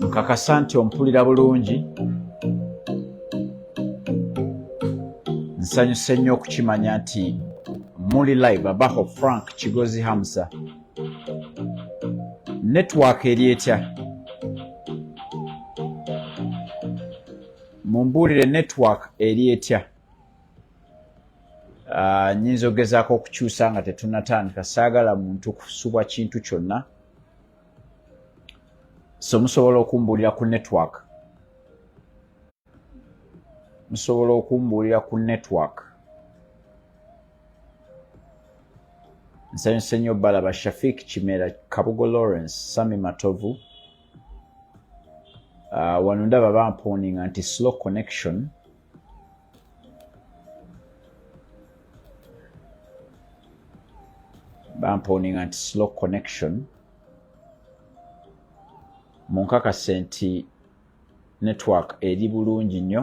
nkakasa nti ompulira bulungi nsanyuse nnyo okukimanya nti muli live abaho frank kigozi hamsa network eri etya mumbuulire network eri etya ah, nyinza okugezaako okukyusa nga tetunatandika saagala muntu kusubwa kintu kyonna so musobola okumbuulira ku network musobola okumbuulira ku network nsanyuse nnyo balaba shafik kimera kabugo lawrence sami matovu uh, wano ndaba bamponinga nti slow connection bamponinga nti slow connection munkakase nti network eri bulungi nnyo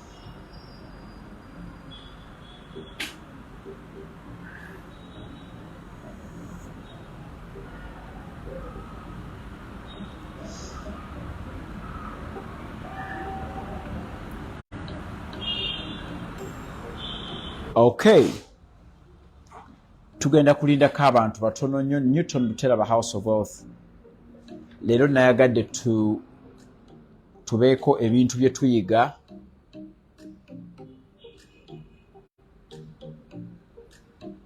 okay tugenda kulindako abantu batono nnyo newton buteraba house of wealth leero nayagadde tubeeko ebintu bye tuyiga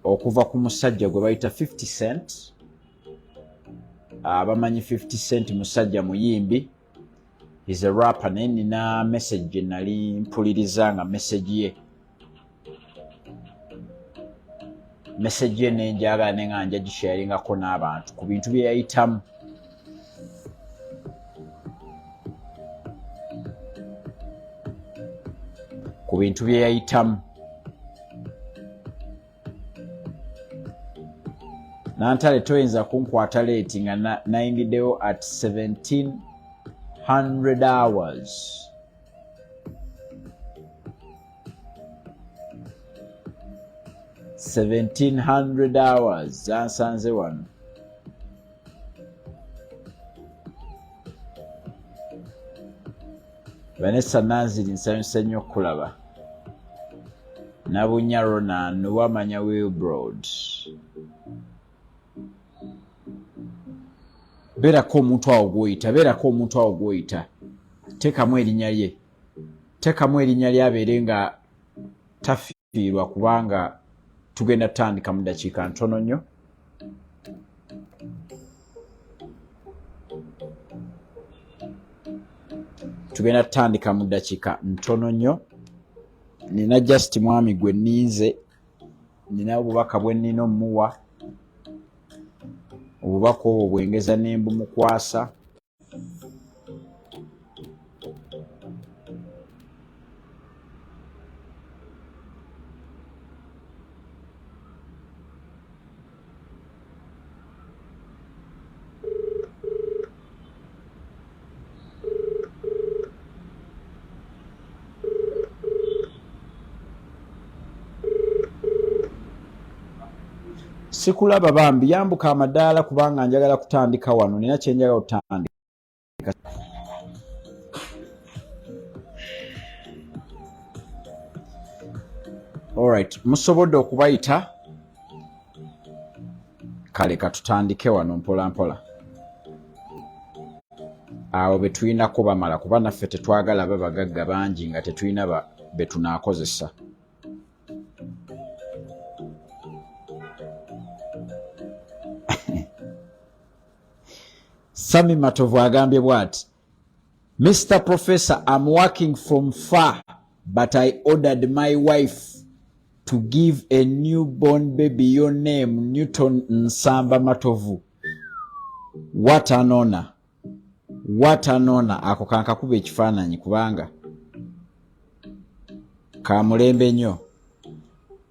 okuva ku musajja gwe bayita 50 cent abamanyi ah, 50 cent musajja muyimbi is a rapper naye nina message gye nali mpuliriza nga message ye mesegi eno enjagala ne nga nja gisharingako n'abantu ku bintu bye yayitamu ku bintu bye yayitamu nantale toyinza kunkwata leeti nga nayingiddewo at 1700 hours Seventeen hundred hours zansanze wano vanessa nanziri nsanyuse nnyo okukulaba nabunya ronan wamanya wilbrod beerako omuntu awo gwoyita beerako omuntu awo gwoyita teekamu erinnya lye teekamu erinnya lye abeere nga tafiirwa kubanga tugenda tutandika mu dakiika ntono nnyo tugenda tutandika mu dakiika ntono nnyo nina just mwami gwe ninze nina obubaka bwe nnina omuwa obubaka obwo bwengeza ne mbumukwasa sikulaba bambi yambuka amadaala kubanga njagala kutandika wano nina kyenjagala otandika Alright, musobodde okubayita kale katutandike wano mpola mpola awo betulina kubamala kuba naffe tetwagala babagagga bangi nga tetulina betunakozesa sami matovu agambye bwati mr professor am working from far but i ordered my wife to give a new born baby your name newton nsamba matovu what an honor what an honor ako kankakuba ekifaananyi kubanga kamulembe nnyo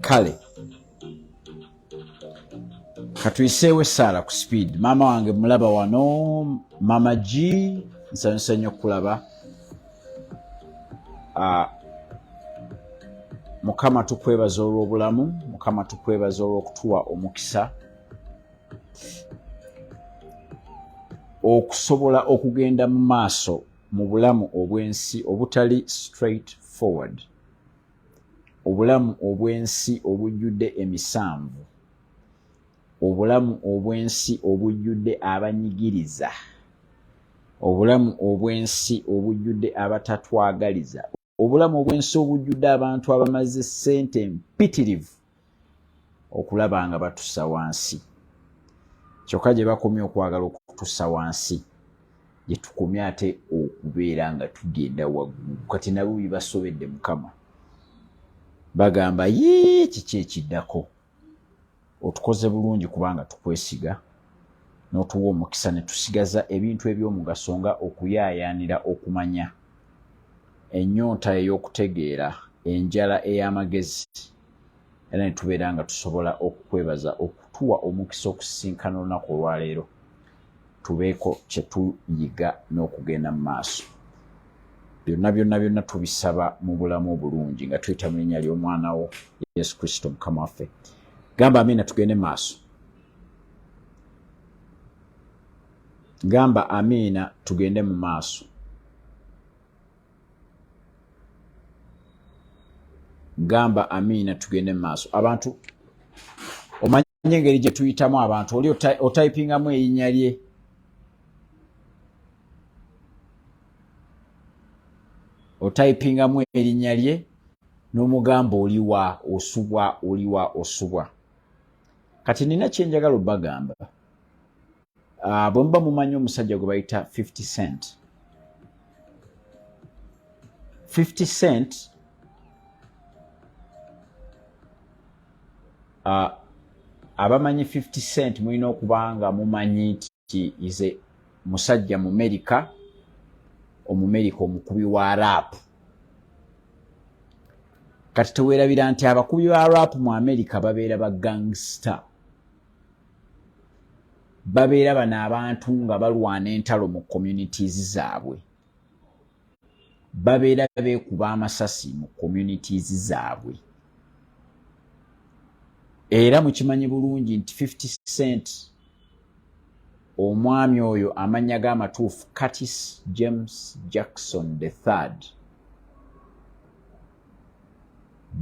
kale katuyiseewo essaala ku speed maama wange mulaba wano maama g nsanyusa nnyo okukulaba ah, mukama tukwebaza olw'obulamu mukama tukwebaza olw'okutuwa omukisa okusobola okugenda mu maaso mu bulamu obw'ensi obutali straight forward obulamu obw'ensi obujjudde emisanvu obulamu obw'ensi obujjudde abanyigiriza obulamu obw'ensi obujjudde abatatwagaliza obulamu obw'ensi obujjudde abantu abamaze ssente mpitirivu okulaba nga batusa wansi kyokka gye bakomye okwagala okutusa wansi gye tukomye ate okubeera nga tugenda waggulu kati nabo bibasobedde mukama bagamba yee kiki ekiddako otukoze bulungi kubanga tukwesiga n'otuwa omukisa ne tusigaza ebintu eby'omugaso nga okuyaayaanira okumanya ennyonta ey'okutegeera enjala ey'amagezi era ne tubeera nga tusobola okukwebaza okutuwa omukisa okusisinkana olunaku olwaleero tubeeko kye tuyiga n'okugenda mu maaso byonna byonna byonna tubisaba mu bulamu obulungi nga tuyita mu linnya ly'omwana wo yesu kristo mukama waffe gamba amiina tugende maaso gamba amiina tugende mu maaso gamba amiina tugende mumaaso abantu omanyi engeri gyetuyitamu abantu oli otayipingamu erinya lye otayipingamu erinya lye nomugamba oliwa osubwa oliwa osubwa kati nina kyenjagala obagamba ah, bwe muba mumanyi omusajja gwe bayita 50 cent 50 cent ah, abamanyi 50 cent mulina okuba nga mumanyi nti ize musajja mumerika omumerika omukubi wa rap kati tewerabira nti abakubi ba rap mu amerika babeera ba gangster babeera bano abantu nga balwana entalo mu communities zaabwe babeera beekuba amasasi mu communities zaabwe era mukimanyi bulungi nti 50 cent omwami oyo amannya g'amatuufu curtis james jackson the third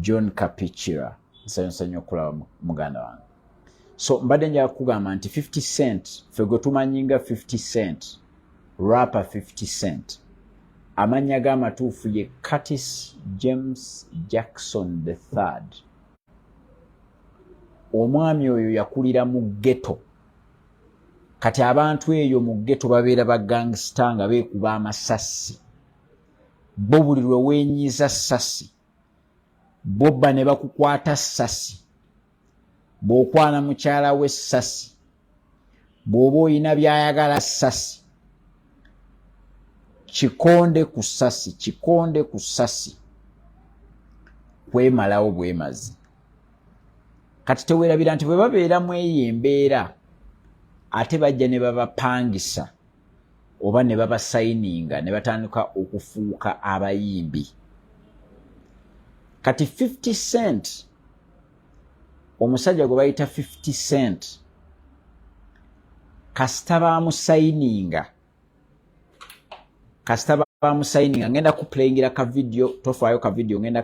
john kapicira nsanyusa nnyo okulaba muganda wange so mbadde njaga kugamba nti 50 cent fe gwe tumanyinga 50 cent rapper 50 cent amannya g'amatuufu ye curtis james jackson the third omwami oyo yakulira mu geto kati abantu eyo mu geto babeera ba gangsita nga beekuba amasasi bo buli lwe weenyiza sasi bobba ne bakukwata sasi bw'okwana mukyala we ssasi bw'oba olina by'ayagala ssasi kikonde ku ssasi kikonde ku ssasi kwemalawo bwemazi kati tewerabira nti bwe babeera mu eyo embeera ate bajja ne babapangisa oba ne babasayininga ne batandika okufuuka abayimbi kati 50 cent omusajja gwe bayita 50 cent kasita bamusayininga kasita bamusayininga ngenda kuplayingira ka vidiyo tofaayo ka vidiyo ngenda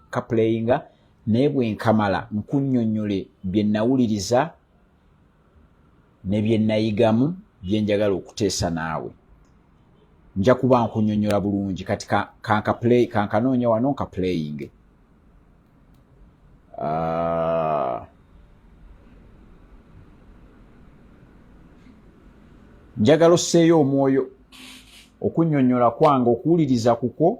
kaplayinga naye bwenkamala nkunyonyole bye nawuliriza ne bye nnayigamu bye njagala okuteesa naawe nja kuba nkunyonyola bulungi kati kankaplay kankanoonya wano nkaplayinge ah. njagala osseeyo omwoyo okunyonyola kwange okuwuliriza kukwo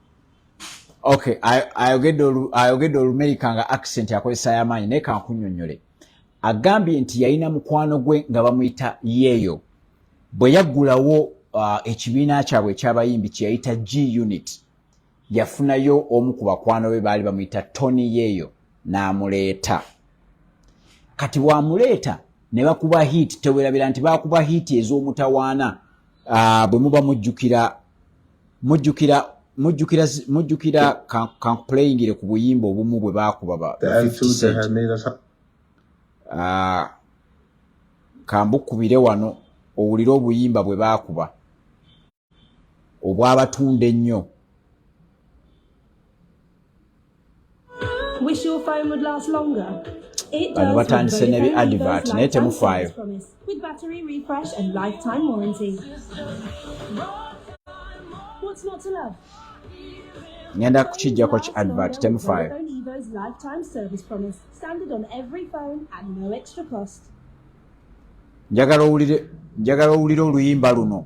okay ayogedde olumerika nga accent akozesa yamaanyi naye kankunyonyole agambye nti yalina mukwano gwe nga bamuyita yeeyo bwe yaggulawo uh, ekibiina kyabwe ekyabayimbi kyeyayita g unit yafunayo omu ku bakwano be baali bamuyita tony yeeyo n'amuleeta kati wamuleeta ne bakuba hiiti tewerabira nti bakuba hiiti ez'omutawaana Ah, bwe muba mujjukira mujjukira mujjukira mujjukira kankupuleyingire ku buyimba obumu bwe baakuba ba ah, kambukubire wano owulire obuyimba bwe baakuba obwabatunda ennyo Wish your phone would last longer. bano batandise ne bi advert naye temufaayo ngenda kukijjako ki advert temufaayo njagala owulire njagala owulire oluyimba luno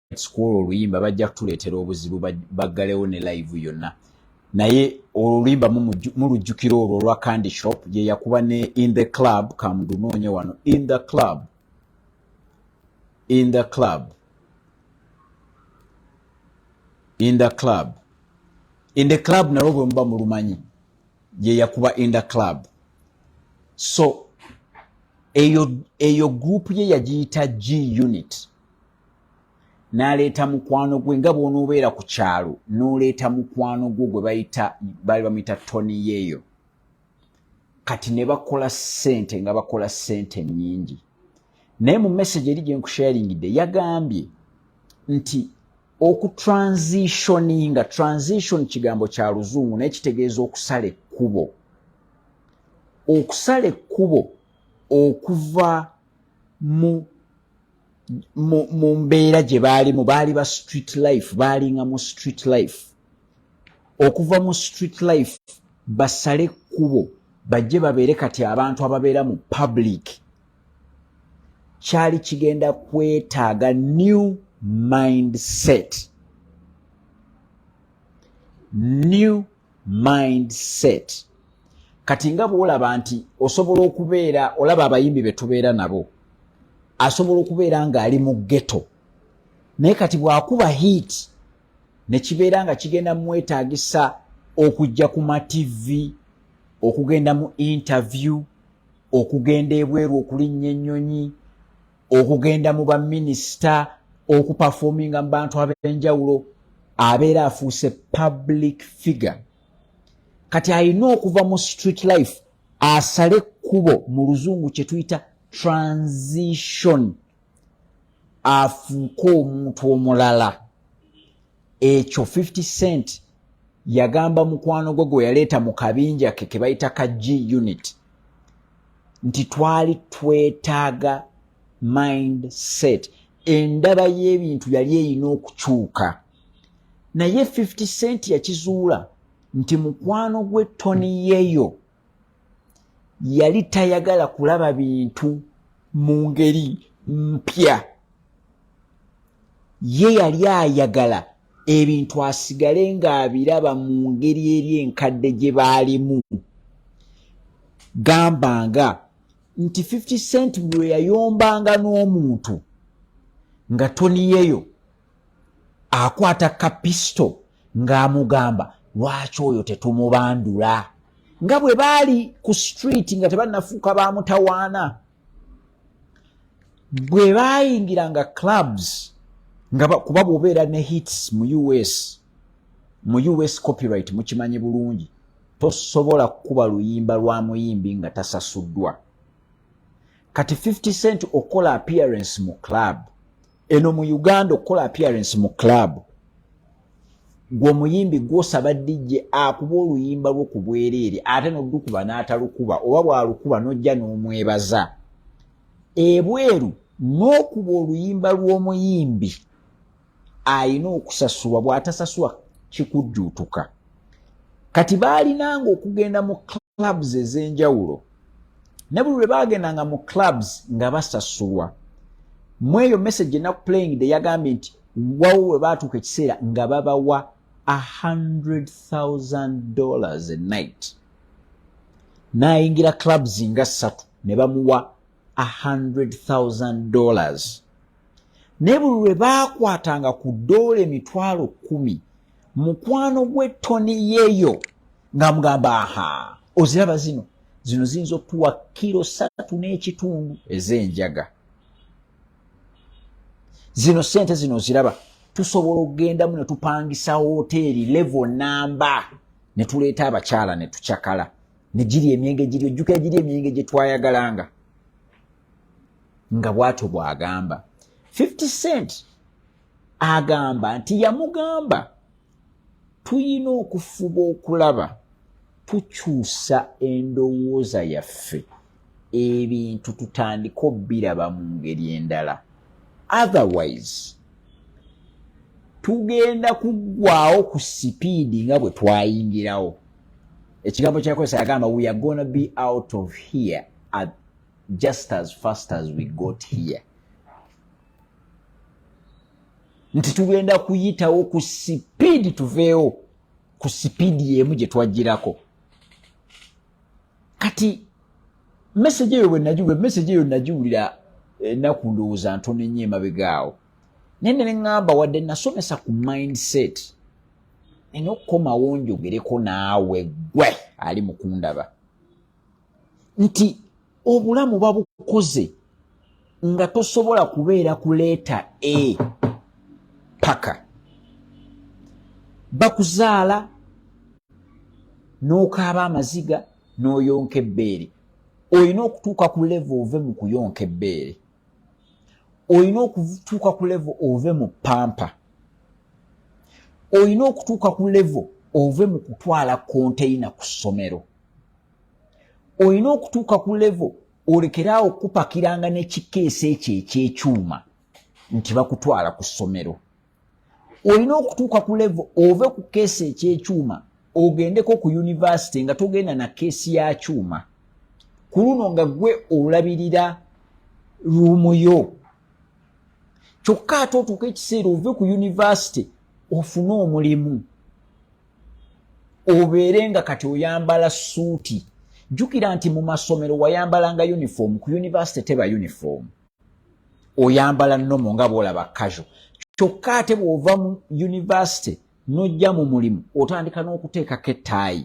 kwolwo oluyimba bajja kutuleetera obuzibu baggalewo ne live yonna naye oluyimba mulujjukira olwo olwa candy shop gyeyakuba ne in the club kamudunoonye wano in the club in the club in the club in the club nalwo bwe muba mulumanyi gyeyakuba in the club so eyo eyo group ye yagiyita g unit n'aleeta mukwano gwe nga bw'onoobeera ku kyalo n'oleeta mukwano gwo gwe bayita baali bamuyita toni yeeyo kati ne bakola ssente nga bakola ssente nnyingi naye mu message eri gye nkusharingidde yagambye nti okutransitioninga transition kigambo kya luzungu naye kitegeeza okusala ekkubo okusala ekkubo okuva mu mu mbeera gye baalimu baali ba street life baalinga mu street life okuva mu street life basale ekkubo bajje babeere kati abantu ababeera mu public kyali kigenda kwetaaga new mindset new mindset kati nga bwolaba nti osobola okubeera olaba abayimbi betubeera nabo asobola okubeera ngaali mu geto naye kati bwakuba heat nekibeera nga kigenda mumwetagisa okujja ku mativi okugenda mu interview okugenda ebweru okulinnya ennyonyi okugenda mu baminisita okupafominga mu bantu ab'enjawulo abeera afuuse public figure kati alina okuva mu street life asale ekkubo mu luzungu kye tuyita transition afuuke omuntu omulala ekyo 50 cent yagamba mukwano gwe gwe yaleeta mu kabinja ke ke bayita ka g unit nti twali twetaaga mind set endaba y'ebintu yali erina okukyuka naye 50 cent yakizuula nti mukwano gwe toni yeyo yali tayagala kulaba bintu mu ngeri mpya ye yali ayagala ebintu asigale ng'abiraba mu ngeri eri enkadde gye baalimu gamba nga nti 50 cent buli lwe yayombanga n'omuntu nga toniyeyo akwata kapisto ng'amugamba lwaki oyo tetumubandula nga bwe baali ku street nga tebanafuuka ba mutawaana bwe baayingira nga clubs nga kuba bwobeera ne hits mu us mu us copyright mukimanyi bulungi tosobola kukuba luyimba lwa muyimbi nga tasasuddwa kati 50 cent okola appearance mu club eno mu uganda okukola appearance mu club gwomuyimbi gwosaba dj akuba oluyimba lwo ku bwereere ate nolukuba n'atalukuba oba bwalukuba nojja n'omwebaza ebweru n'okuba oluyimba lw'omuyimbi ayina okusasulwa bw'atasasula kikujjuutuka kati baalinanga okugenda mu clubs ez'enjawulo ne buli lwe baagendanga mu clubs nga basasulwa mu eyo message enaku playing de yagambye nti wawo we baatuuka ekiseera nga babawa 100,000 dollars a night n'ayingira clubs nga ssatu ne bamuwa 100,000 dollars naye buli lwe baakwatanga ku doola emitwalo kumi mukwano gwe toni yeyo nga mugamba aha oziraba zino zino ziyinza okutuwa kiro satu n'ekitundu ez'enjaga zino sente zino oziraba tusobola okugendamu ne tupangisa woteeri levo namba ne tuleeta abakyala ne tucakala ne giri emyenge giri ojjukira giri emyenge gye twayagalanga nga bwatyo bw'agamba 50 cent agamba nti yamugamba tuyina okufuba okulaba tukyusa endowooza yaffe ebintu tutandika obbiraba mu ngeri endala otherwise tugenda kuggwawo ku sipiidi nga bwe twayingirawo ekigambo kyakozesa yagamba we are gonna be out of here at just as fast as we got here nti tugenda kuyitawo ku sipiidi tuveewo ku sipiidi yemu gye twajjirako kati mesage eyo bwenagiwula mesage eyo nagiwulira enaku eh, ndowooza ntono ennyo emabegaawo naye ne neŋŋamba wadde nasomesa ku mindset nina okukomawo njogereko naawe gwe ali mukundaba nti obulamu babukoze nga tosobola kubeera ku leeta a paka bakuzaala n'okaaba amaziga n'oyonka ebbeere olina okutuuka ku levo ove mu kuyonka ebbeere olina okutuuka ku levo ove mu pampa olina okutuuka ku levo ove mu kutwala konteyina ku ssomero olina okutuuka ku levo olekeraawo okupakiranga nekikeesa ekyo ekyekyuma nti bakutwala ku ssomero olina okutuuka ku levo ove ku keesa ekyekyuma ogendeko ku yunivasite nga togenda na keesi ya kyuma ku luno nga gwe olabirira ruumu yo kyokka ate otuuka ekiseera ove ku yunivasite ofune omulimu obeere nga kati oyambala suuti jjukira nti mu masomero wayambalanga uniform ku yunivasite teba uniform oyambala nomo nga bwolaba kajo kyokka ate bw'ova mu yunivasite n'ojja mu mulimu otandika n'okuteekako ettaayi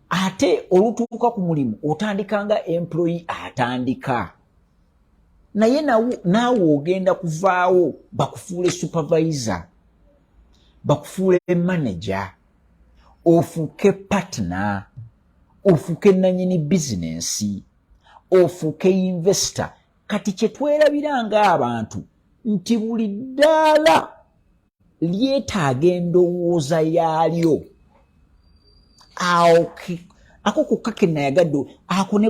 ate olutuuka ku mulimu otandika nga employi atandika naye naawe ogenda kuvaawo bakufuule supervisor bakufuule manager ofuuke partner ofuuke nanyini bizinensi ofuuke investor kati kyetwerabira ngaabantu nti buli ddaala lyetaaga endowooza yaalyo awo ako kokka ke nayagadde ako ne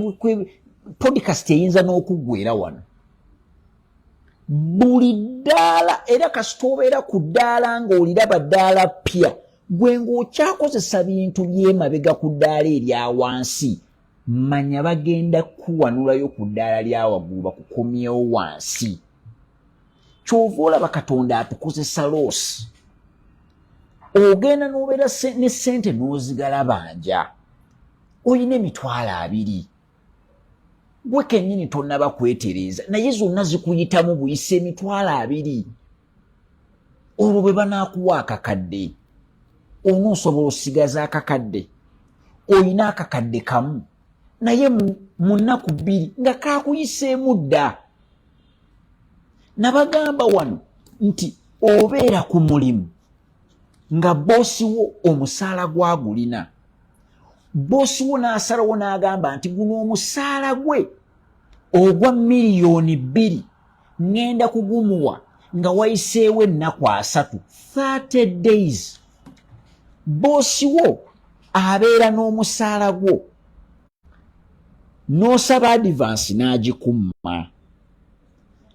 podcast eyinza n'okuggwera wano buli ddaala era kasita obeera ku ddaala ng'oliraba ddaala ppya gwe ng'okyakozesa bintu by'emabega ku ddaala erya wansi manya bagenda kuwanulayo ku ddaala lya waggulu bakukomyewo wansi kyova olaba katonda atukozesa loosi ogenda nobeera ne sente nozigala banja olina emitwalo abiri gwe kenyini tonaba kwetereeza naye zonna zikuyitamu buyisa emitwalo abiri olwo bwe banakuwa akakadde ono osobola osigaza akakadde olina akakadde kamu naye mu nnaku bbiri nga kakuyiseemu dda nabagamba wano nti obeera ku mulimu nga boosi wo omusaala gwagulina boosi wo n'asalawo n'agamba nti guno omusaala gwe ogwa miliyoni bbiri ŋŋenda kugumuwa nga wayiseewo ennaku asatu 30 days boosi wo abeera n'omusaala gwo n'osaba adivansi n'agikumma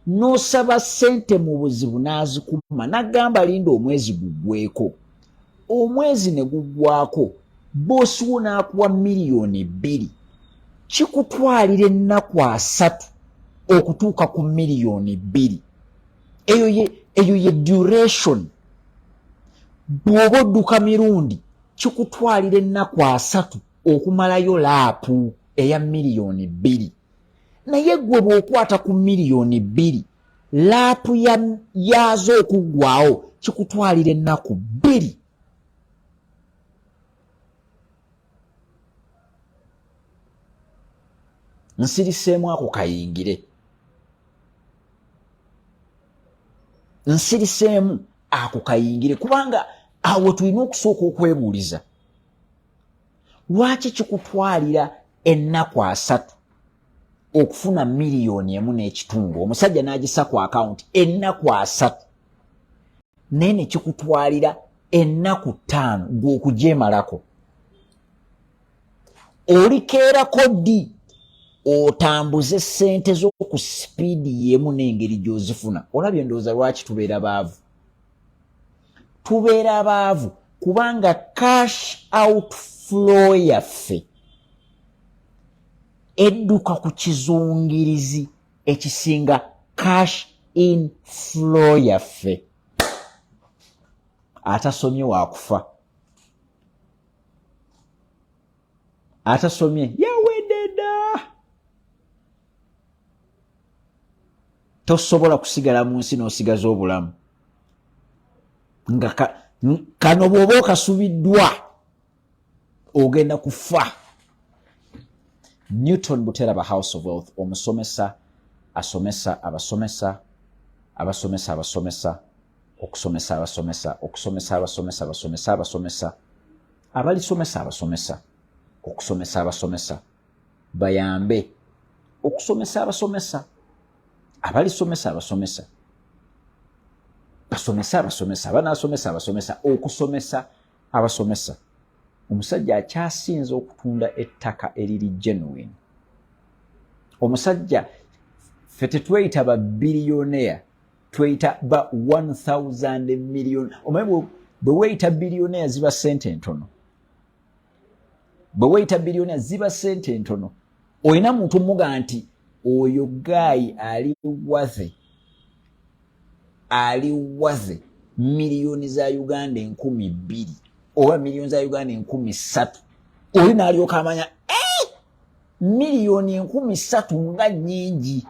n'osaba ssente mu buzibu n'azikumma n'agamba linda omwezi guggweko omwezi ne guggwako boosi wo n'akuwa miliyoni bbiri kikutwalira ennaku asatu okutuuka ku miliyoni bbiri eyo ye eyo ye duration bw'oba odduka mirundi kikutwalira ennaku asatu okumalayo laapu eya miliyoni bbiri naye gwe bw'okwata ku miliyoni bbiri laapu yaazo okuggwawo kikutwalira ennaku bbiri nsiriseemu ako kayingire nsiriseemu ako kayingire kubanga awo tulina okusooka okwebuuliza lwaki kikutwalira ennaku asatu okufuna miliyoni emu n'ekitundu omusajja n'agisa ku akawunti ennaku asatu naye ne kikutwalira ennaku ttaano gw'okugyemalako olikeerako ddi otambuze ssente zo ku sipiidi y'emu n'engeri gy'ozifuna olabye endowooza lwaki tubeera baavu tubeera baavu kubanga cash out flow yaffe edduka ku kizungirizi ekisinga cash in flow yaffe atasomye wakufa atasomye yawededa tosobola kusigala mu nsi n'osigaza obulamu nga kano bw'oba okasubiddwa ogenda kufa newton buteraba house of wealth omusomesa asomesa abasomesa abasomesa abasomesa okusomesa abasomesa okusomesa abasomesa abasomesa abasomesa abalisomesa abasomesa okusomesa abasomesa bayambe okusomesa abasomesa abalisomesa abasomesa basomese abasomesa banasomesa abasomesa okusomesa abasomesa omusajja akyasinza okutunda ettaka eriri genuine omusajja fe tetweyita ba bilioneya tweyita ba 1000 million omanyi bwe weyita bilioneya ziba sente entono bwe weyita biliyona ziba sente entono olina muntu muga nti oyo gaayi ali waze ali waze miliyoni za uganda enkumi bbiri oba miliyoni za uganda enkumi ssatu oli naalyoka amanya eh! miliyoni enkumi ssatu nga nyingi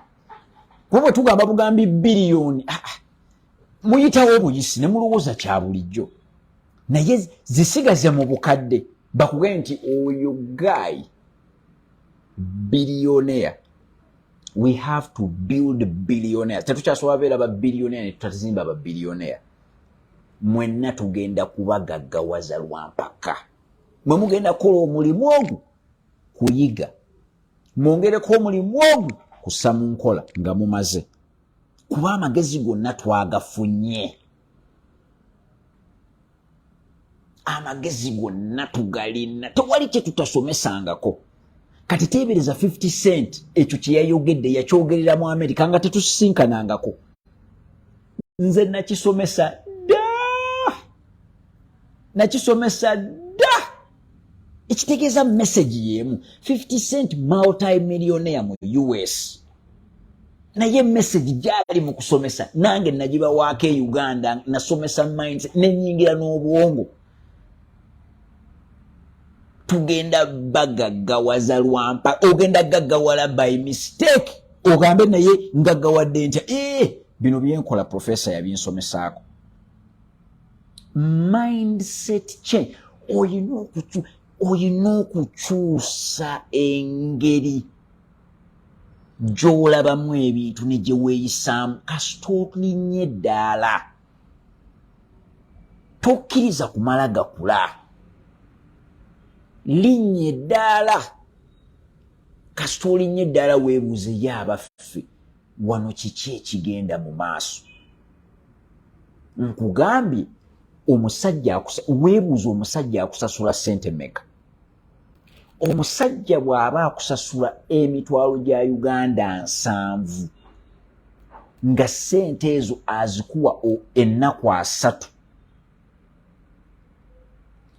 kuba bwe tugamba bugambi biliyoni ah, ah. muyitawo obuyisi ne mulowooza kya bulijjo naye zisigaze mu bukadde bakuge nti oyo guy billionaire we have to build billionaire tetukyasobola beera ba billionaire netutazimba ba billionaire mwenna tugenda kubagaggawaza lwampaka mwe mugenda kukola omulimu ogwo kuyiga mwongereko omulimu ogwo kusa mu nkola nga mumaze kuba amagezi gonna twagafunye amagezi gonna tugalina tewali kyetutasomesangako kati teebereza 50 cent ekyo kyeyayogedde yakyogerera mu amerika nga tetusisinkanangako nze nakisomesa dda nakisomesa dda ekitegeeza message yeemu 50 cent multimillionaire mu us naye message gyali mu kusomesa nange nagibawaako e uganda nasomesa minds nenyingira n'obwongo tugenda bagaggawaza lwampa ogenda gaggawala by mistake ogambe naye ngaggawadde ntya ee eh, bino byenkola profesa yabinsomesaako mindset change oyina okucu oyina okukyusa engeri gyolabamu ebintu ne gye weeyisaamu kasita otulinnya eddaala tokkiriza kumala gakula linnya eddaala kasita olinnya eddaala weebuuze ye abaffe wano kiki ekigenda mu maaso nkugambye omusajja weebuuza omusajja akusasula sente meka omusajja bw'aba akusasula emitwalo gya uganda nsanvu nga sente ezo azikuwa ennaku asatu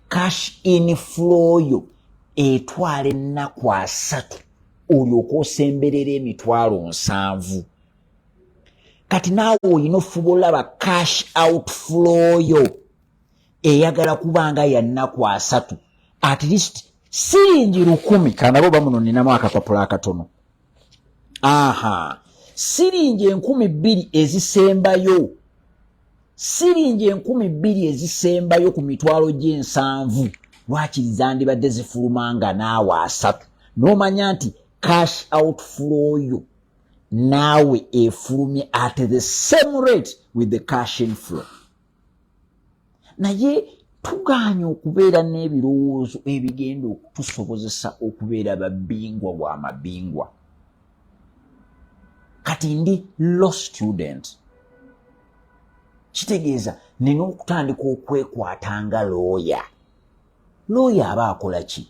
cash in floyo etwala ennaku asatu olyoka osemberera emitwalo nsanvu kati naawe olina ofuba olaba cash out flow yo eyagala kuba nga yannaku asatu at least siringi lukumi kanabo bamuno ninamu akapapula akatono aha siringi enkumi bbiri ezisembayo siringi enkumi bbiri ezisembayo ku mitwalo gy'ensanvu lwakiri zandibadde zifuluma nga naawe asatu n'omanya nti cash out flow yo naawe efulumye at the same rate with the cash inflow naye tugaanye okubeera n'ebirowoozo ebigenda okutusobozesa okubeera babingwa wa mabingwa kati ndi law student kitegeeza nina okutandika okwekwata nga looya looya aba akola ki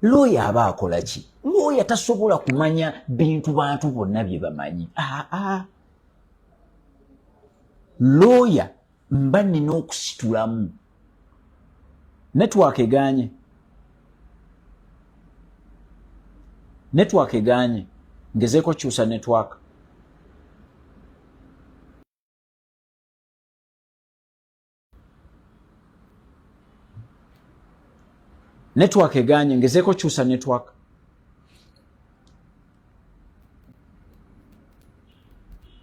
looya aba akola ki looya tasobola kumanya bintu bantu bonna bye bamanyi aa looya mba nina okusitulamu network eganye network eganye ngezeeko kyusa network network eganye ngezeko kyusa network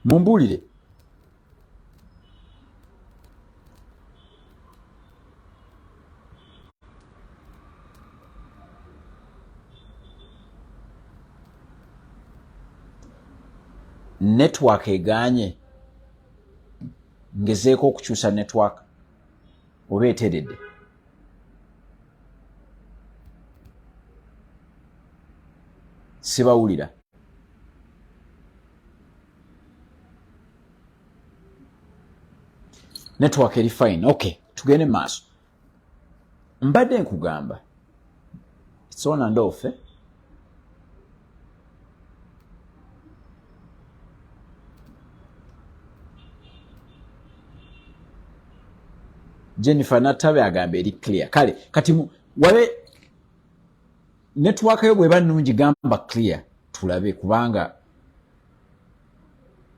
mumbulire network eganye ngezeeko okukyusa network oba eteredde sibawulira network eri fine okay tugende maaso mbadde nkugamba sona ndoofe jennifer natabe agamba eri clear kale kati wabe network yo bweba nungi gamba clear tulabe kubanga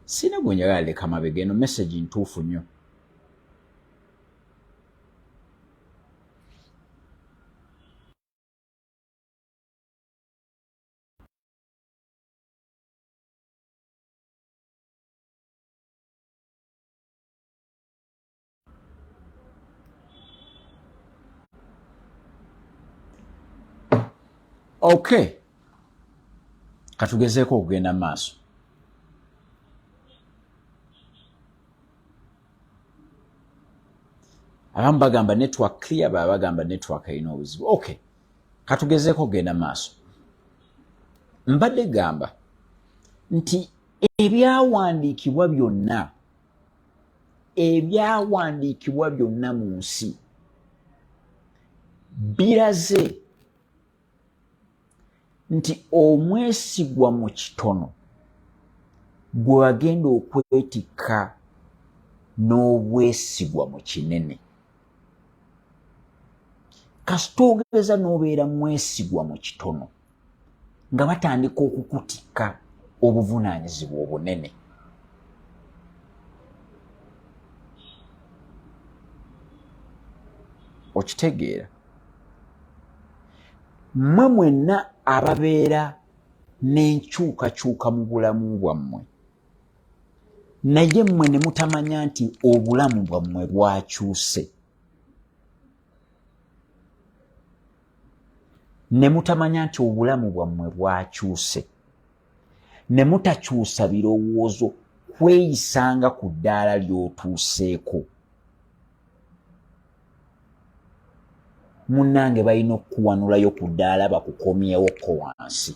sina gwenjagala leka mabega eno message ntuufu nnyo okay katugezeeko okugenda maaso abamu bagamba network clear baba bagamba network erina obuzibu okay katugezeeko okugenda maaso mbadde gamba nti ebyawandiikibwa byonna ebyawandiikibwa byonna mu nsi biraze nti omwesigwa mu kitono gwe wagenda okwetikka n'obwesigwa mu kinene kasita ogereza n'obeera mwesigwa mu kitono nga batandika okukutikka obuvunaanyizibwa obunene okitegeera mmwe mwenna ababeera n'enkyukakyuka mu bulamu bwammwe naye mmwe ne mutamanya nti obulamu bwammwe bwakyuse ne mutamanya nti obulamu bwammwe bwakyuse ne mutakyusa birowoozo kweyisanga ku ddaala ly'otuuseeko munnange balina okukuwanulayo ku ddaala bakukomyewo ko wansi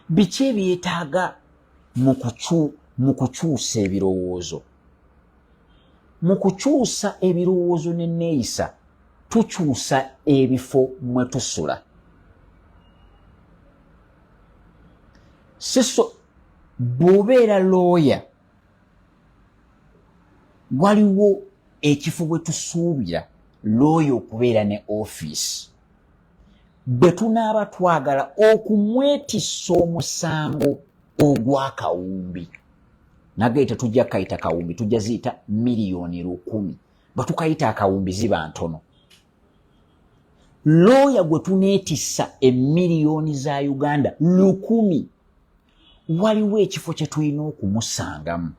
biki ebyetaaga mu kukyusa ebirowoozo mu kukyusa ebirowoozo neneeyisa tukyusa ebifo mwe tusula siso bw'obeera looya waliwo ekifo bwe tusuubira looya okubeera ne ofiisi bwe tunaaba twagala okumwetisa omusango ogw'akawumbi nagee tetujja kukayita kawumbi tujja ziyita miliyoni lukumi batukayita akawumbi ziba ntono looya gwe tuneetisa emiliyoni za uganda lukumi waliwo ekifo kye tulina okumusangamu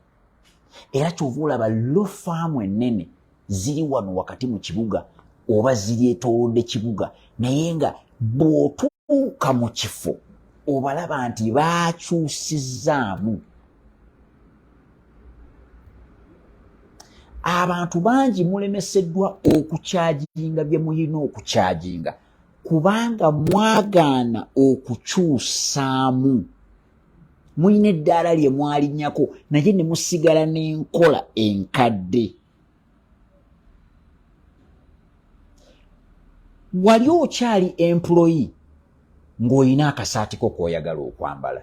era kyova olaba lo faamu ennene ziri wano wakati mu kibuga oba ziri etowodde kibuga naye nga bw'otuuka mu kifo obalaba nti baakyusizaamu abantu bangi mulemeseddwa okukyaginga bye muyina okukyaginga kubanga mwagaana okukyusaamu mulina eddaala lye mwalinyako naye ne musigala n'enkola enkadde wali okyali employi ng'olina akasaati ko k'oyagala okwambala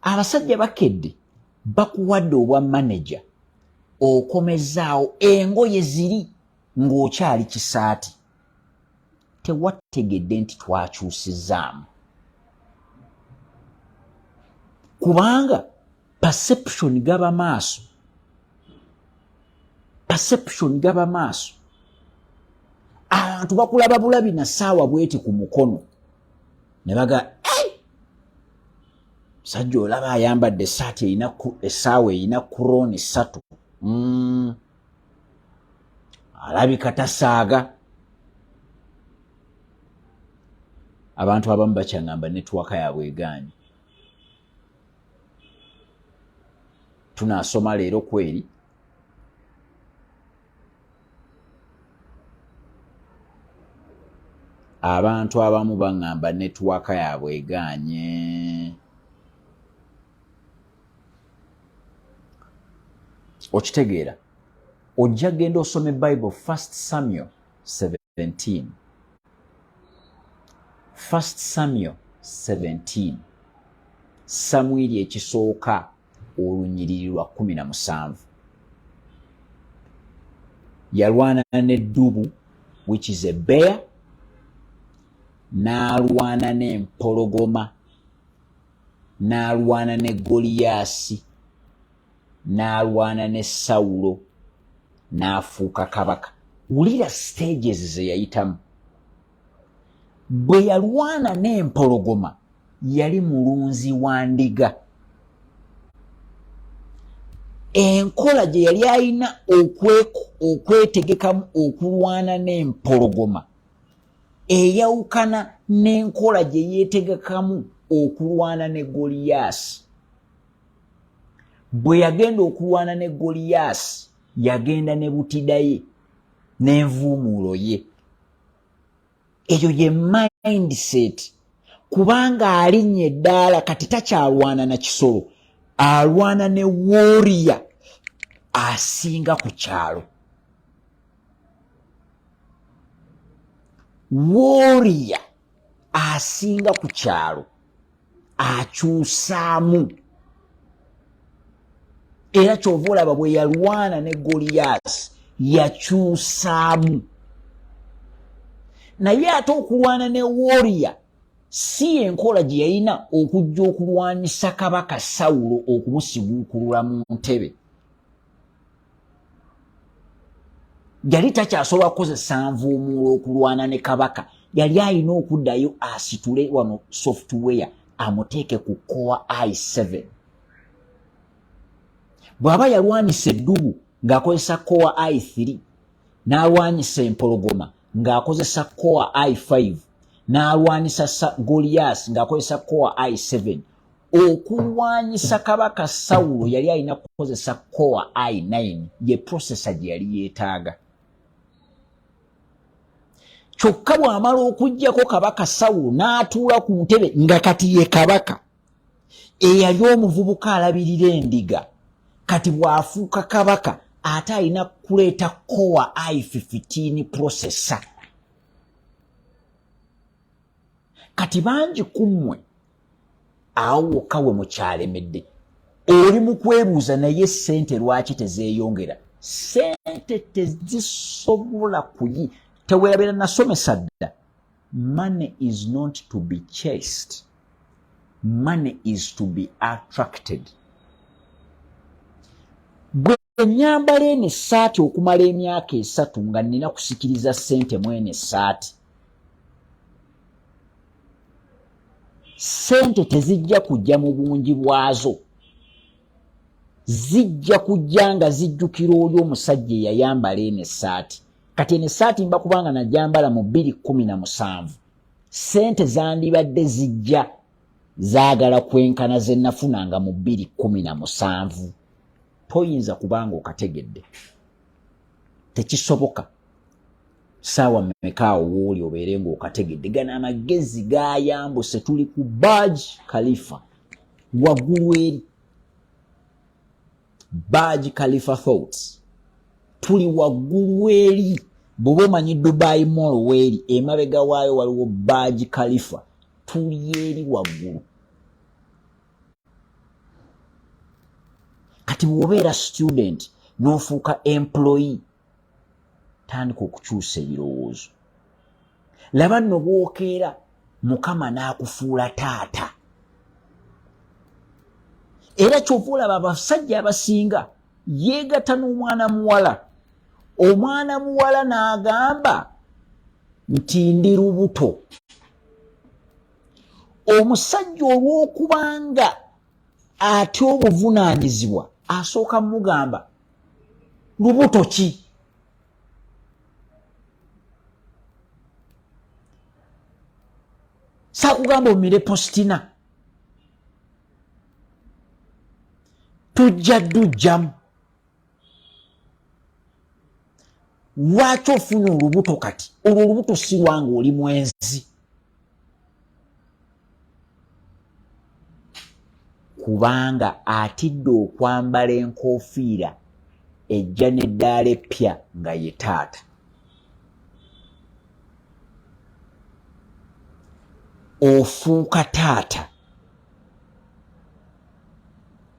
abasajja bakedde bakuwadde obwa maneja okomezaawo engoye ziri ng'okyali kisaati tewategedde nti twakyusizaamu kubanga perception gaba maaso perception gaba maaso abantu bakulaba bulabi na saawa bweti ku mukono ne baga sajja olaba ayambadde esaati erina essaawa erina kurooni ssatu mm. alabika tasaaga abantu abamu bakyangamba netwaka yabwe egaanyi tunasoma leero kweri abantu abamu baŋŋamba netwaka yabwe egaanye okitegeera ojja genda osome bible first samuel 17 first samuel 17 samwiri ekisooka olunyiriri lwa 17 yalwana neddubu which is a bear n'alwana n'empologoma n'alwana ne Goliyaasi, n'alwana ne Sawulo, n'afuuka kabaka. Wulira stages ze yayitamu. Bwe yalwana n'empologoma yali mulunzi wa ndiga. Enkola gye yali alina okwetegekamu okulwana n'empologoma eyawukana n'enkola gye yeetegekamu okulwana ne goliyaasi bwe yagenda okulwana ne goliyaasi yagenda ne butidaye n'envuumuulo ye eyo ye mindset kubanga alinnya eddaala kati takyalwana na kisolo alwana ne woriya asinga ku kyalo wooriya asinga ku kyalo akyusaamu era kyova olaba bwe yalwana ne goliyaasi yakyusaamu naye ate okulwana ne wooriya si enkola gye yalina okujja okulwanyisa kabaka sawulo okumusiguukulula mu ntebe yali takyasobola kukozesa nvuumuula okulwana ne kabaka yali alina okuddayo asitule wano software amuteeke ku coa i7 bw'aba yalwanyisa eddubu ng'akozesa coa i3 n'alwanyisa empologoma ng'akozesa coa i5 n'alwanyisa goliyasi ng'akozesa coa i7 okulwanyisa kabaka sawulo yali alina kukozesa coa i 9 ye prosesa gye yali yeetaaga kyokka bw'amala okugyako kabaka sawulo n'atuula ku ntebe nga kati ye kabaka eyali omuvubuka alabirira endiga kati bw'afuuka kabaka ate alina kuleeta coa i 15 prosesa kati bangi ku mmwe awo wokka we mukyalemedde oli mu kwebuuza naye sente lwaki tezeyongera sente tezisobola kuyi tewerabera nasomesa dda money is not to be chased money is to be attracted ennyambala eno essaati okumala emyaka esatu nga nnina kusikiriza ssente mu eno essaati ssente tezijja kujja mu bungi bwazo zijja kujja nga zijjukira oli omusajja eyayambala eno essaati kati eno essaati mba kubanga najambala mu bbiri kkumi na musanvu ssente zandibadde zijja zaagala kwenkana ze nafunanga mu bbiri kkumi na musanvu toyinza kubanga okategedde tekisoboka saawa mekaawo wooli obeere ngaokategedde gana amagezi gayambuse tuli ku baj khalifa waggulu eri baj khalifa thoughts tuli waggulu eri bwoba omanyi dubai mall weeri emabega waayo waliwo baj khalifa tuli eri waggulu kati bwobeera student nofuuka employe tandika okukyusa ebirowoozo laba nno bwokeera mukama n'akufuula taata era kyova olaba abasajja abasinga yeegata n'omwana muwala omwana muwala n'agamba nti ndi lubuto omusajja olw'okubanga ate obuvunaanyizibwa asooka mugamba lubuto ki sakugamba omire postina tujja dujjamu lwaki ofuna olubuto kati olwo olubuto sirwanga oli mwenzi kubanga atidde okwambala enkofiira ejja neddaala eppya nga ye taata ofuuka taata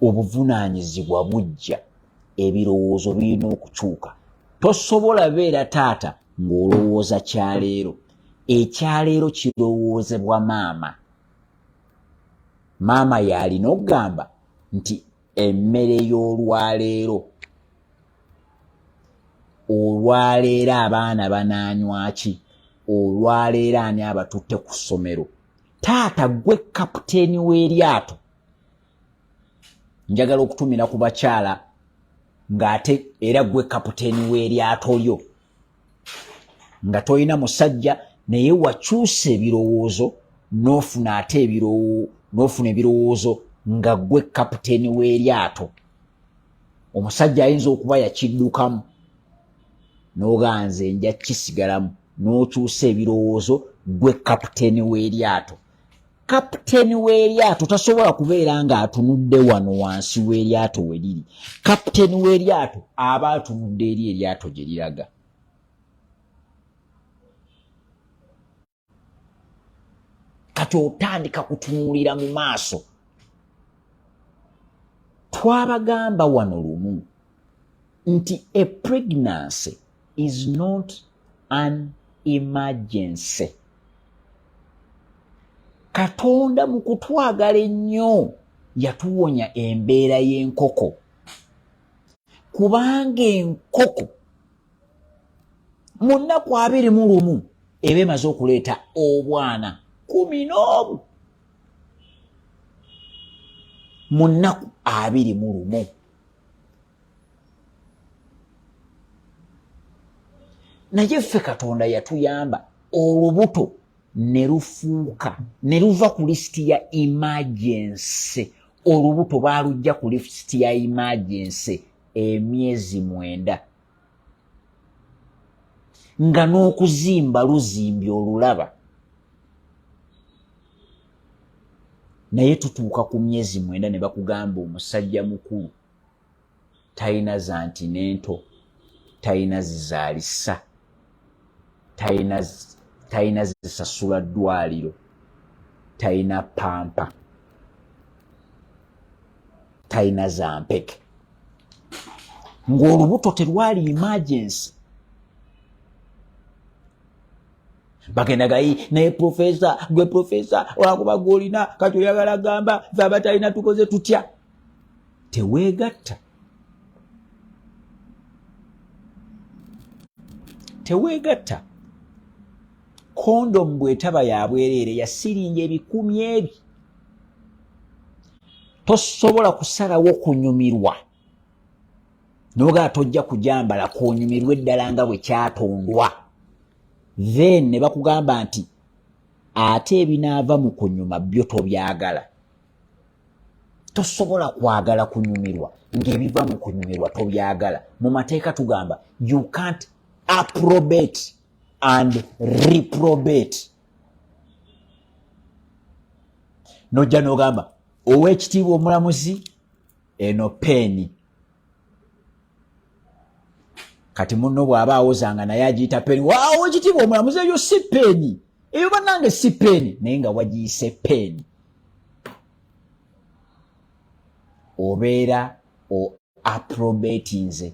obuvunaanyizibwa bujja ebirowoozo birina okukyuka tosobola beera taata ng'olowooza kyaleero ekyaleero kirowoozebwa maama maama yaalina okugamba nti emmere y'olwaleero olwaleero abaana banaanywaki olwaleero ani abatutte ku ssomero taata gwe kaputeeni w'eryato njagala okutumira ku bakyala ng'ate era gwe kaputeeni w'eryato lyo nga tolina musajja naye wakyusa ebirowoozo n'ofuna ate n'ofuna ebirowoozo nga gwe kaputeeni w'eryato omusajja ayinza okuba yakiddukamu n'oganze nja kisigalamu n'okyusa ebirowoozo gwe kapiteeni w'eryato kapiteeni w'eryato tasobola kubeera ng'atunudde wano wansi w'eryato we liri kapiteeni w'eryato aba atunudde eri eryato gye liraga kati otandika kutunuulira mu maaso twabagamba wano lumu nti a pregnancy is not an emergency katonda mu kutwagala ennyo yatuwonya embeera y'enkoko kubanga enkoko mu nnaku abiri mu lumu eba emaze okuleeta obwana kumi n'obu mu nnaku abiri mu lumu naye ffe katonda yatuyamba olubuto ne lufuuka ne luva ku lisiti ya imagense olubuto baalujja ku lisiti ya imagense emyezi mwenda nga n'okuzimba luzimbye olulaba naye tutuuka ku myezi mwenda ne bakugamba omusajja mukulu talina zanti nento talina zizalisa talina zisasula ddwaliro talina pampa talina zampeke ng'olubuto terwali emergency bagenda gayi naye profesa gwe profesa olwakuba gweolina kati oyagala gamba fe abatalina tukoze tutya teweegatta teweegatta kondomu bwetaba ya bwereere ya siringi ebikumi ebi tosobola kusalawo kunyumirwa noga tojja kujambala kunyumirwa eddala nga bwe kyatondwa then ne bakugamba nti ate ebinaava mu kunyuma byo tobyagala tosobola kwagala kunyumirwa ng'ebiva mu kunyumirwa tobyagala mu mateeka tugamba you can't approbate and reprobate nojja nogamba ow'ekitiibwa omulamuzi eno peeni kati muno bw'aba awozanga naye agiyita peeni waawo ekitiibwa omulamuzi eyo si peeni eyo bannange si peeni naye nga wagiyise peeni obeera o aprobatinze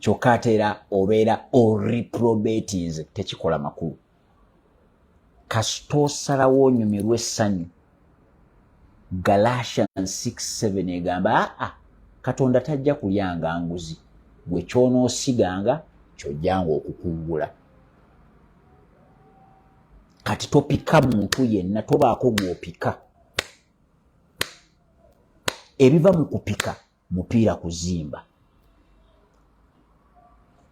kyokka ateera obeera o reprobatinze tekikola makulu kasita osalawo onyumirwa essanyu galatian 67 egamba aa katonda tajja kulyanga nguzi gwe kyonoosiganga kyojjanga okukungula kati topika muntu yenna tobaako gwopika ebiva mu kupika mupiira kuzimba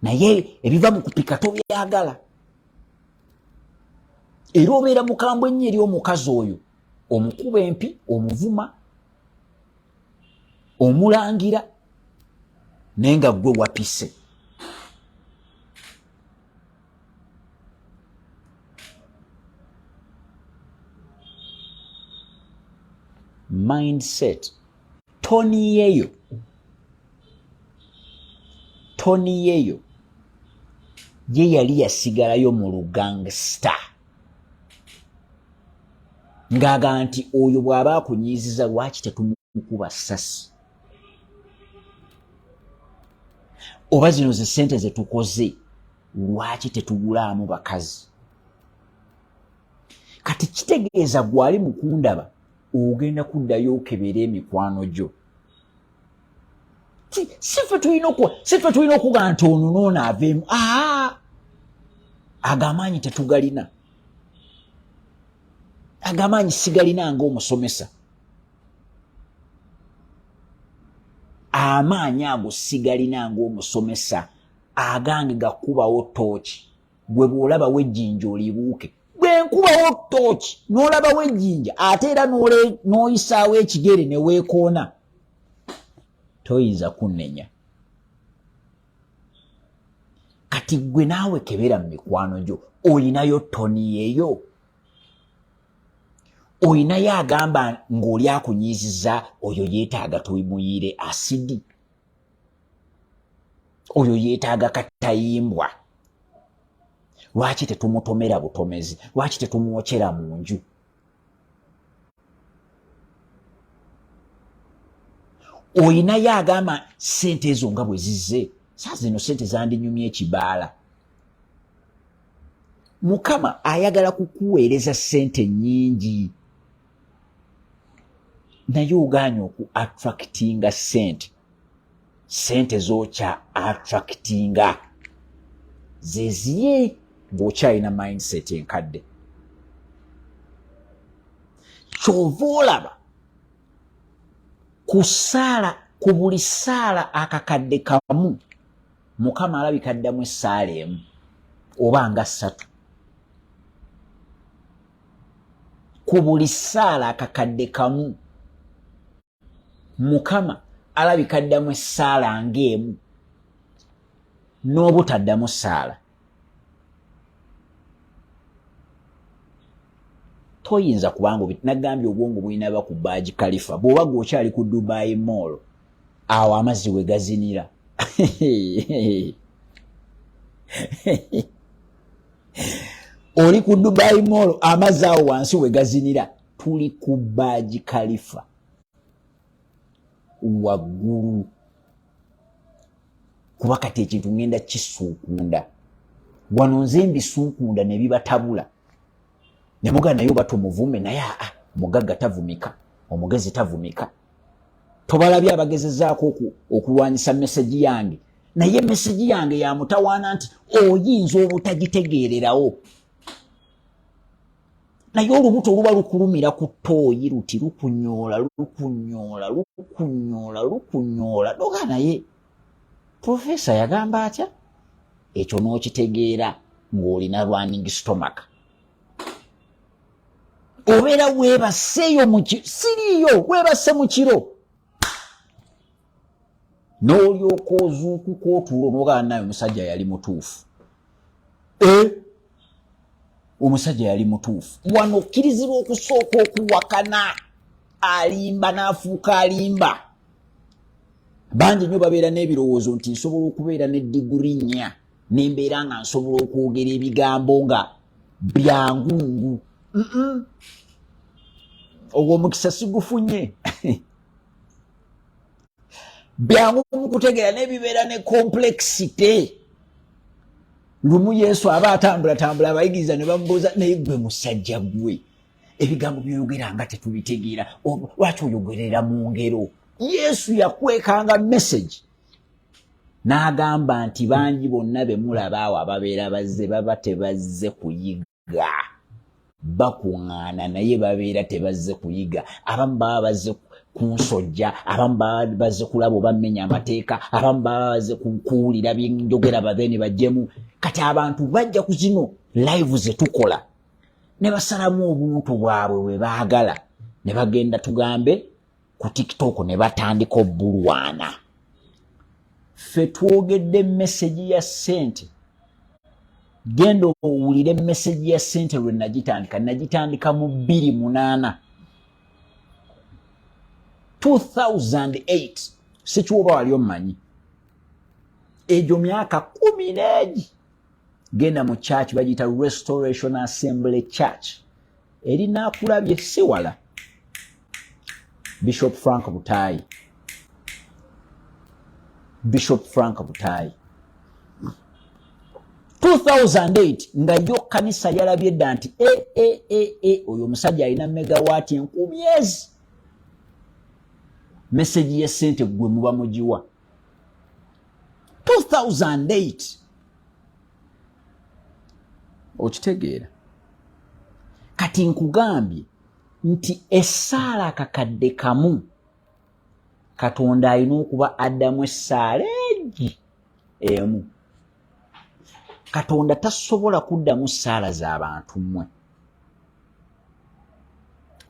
naye ebiva mu kupika tobyagala era obeera mukambwe ennyo eri omukazi oyo omukuba empi omuvuma omulangira naye nga gwe wapise mindset toniyeyo toniyeyo ye yali yasigalayo mu lugangstar ng'agamba nti oyo bw'aba akunyiiziza lwaki tetumukuba sasi oba zino ze ssente ze tukoze lwaki tetugulaamu bakazi kati kitegeeza gwali mukundaba ogenda kuddayo okebera emikwano gyo sife tulina okuwa sife tulina okugaa nti ono noono aveemu aa ago amaanyi tetugalina ago amaanyi sigalina nga omusomesa amaanyi ago sigalina nga omusomesa agange gakubawo tooki gwe bw'olabawo ejjinja olibuuke bwe nkubawo tooki n'olabawo ejjinja ate era n'oyisaawo ekigere ne weekoona toyinza kunnenya kati gwe naawe kebera mu mikwano gyo olinayo toni yeyo olinayo agamba ng'oli akunyiiziza oyo yeetaaga tuimuyiire asidi oyo yeetaaga katayimbwa lwaki tetumutomera butomezi lwaki tetumwokyera mu nju oyinayo agamba sente ezo nga bwe zizze saa zino sente zandinyumya ekibaala mukama ayagala kukuweereza sente nyingi naye ogaanye oku attractinga sente sente zokya attractinga zeziye ngaokyalina mindset enkadde kyova olaba kusaala ku buli saala akakadde kamu mukama alabika addamu essaala emu oba nga ssatu ku buli ssaala akakadde kamu mukama alabika addamu essaala ng'emu n'obutaddamu ssaala toyinza kubanga nagambye obwongo bulinaba ku baaji kalifa bw'oba gwe okyali ku dubayi moolo awo amazzi we gazinira oli ku dubai mall amazzi awo wansi wegazinira tuli ku baaji kalifa waggulu kuba kati ekintu ŋenda kisuukunda wano nze mbisuukunda ne bibatabula ne mugaa naye oba tumuvume naye aa mugagga tavumika omugezi tavumika tobalabye abagezezaako okulwanyisa mesegi yange naye mesegi yange yamutawaana nti oyinza obutagitegeererawo naye olubuto oluba lukulumira ku tooyi luti lukunyoola lukunyoola lukunyoola lukunyoola noga naye profesa yagamba atya ekyo n'okitegeera ng'olina running stomach obeera weebaseeyo muki siriiyo weebase mu kiro n'olyoka ozuukuka otuula onogaa naye omusajja yali mutuufu eh? omusajja yali mutuufu wano okkirizibwa okusooka okuwakana alimba n'afuuka alimba bangi nnyo babeera n'ebirowoozo nti nsobola okubeera ne diguri nnya nembeera nga nsobola okwogera ebigambo nga byangungu ogwo omukisa sigufunye byangu mukutegeera nebibeera ne complexity lumu yesu aba atambulatambula abayigiriza ne bamubuuza naye gwe musajja gwe ebigambo byoyogera nga tetubitegeera lwaki oyogerera mu ngero yesu yakwekanga message n'agamba nti bangi bonna be mulaba awo ababeera bazze baba tebazze kuyiga bakuŋŋaana naye babeera tebazze kuyiga abamu baba bazze kunsojja abamu baba bazze kulaba oba mmenya amateeka abamu baba bazze kuwulira byenjogera bave ne bajjemu kati abantu bajja ku zino live ze tukola ne basalamu obuntu bwabwe bwe baagala ne bagenda tugambe ku tiktok ne batandika obulwana ffe twogedde mesegi ya sente genda owulire mesegi ya sente lwe nagitandika nagitandika mu bbiri munaana 2008 sikiwoba wali omumanyi egyo myaka kumi neegi genda mu church bagiyita restoration assembly church eri nakulabye siwala bishop frank butayi bishop frank butayi 2008 nga yo kanisa yalabye dda nti e, e, e, e, oyo omusajja alina megawaati enkumyezi meseji yesente gwe muba mugiwa 2008 okitegeera kati nkugambye nti essaala akakadde kamu katonda alina okuba addamu essaala egi emu katonda tasobola kuddamu ssaala za bantu mmwe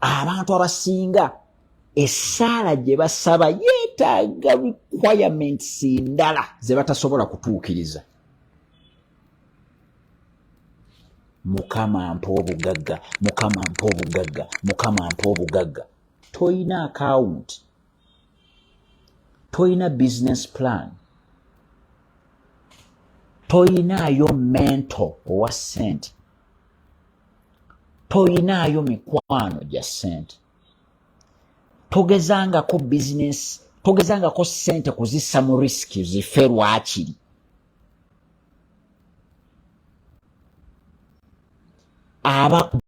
abantu abasinga essaala gye basaba yeetaaga requirements ndala ze batasobola kutuukiriza mukama mpa obugagga mukama mpa obugagga mukama mpa obugagga toyina akawunti toyina business plan toyinaayo mento owa sente toyinaayo mikwano gya sente togezangako bizinesi togezangako sente kuzissa mu risiki zife lwakiri aba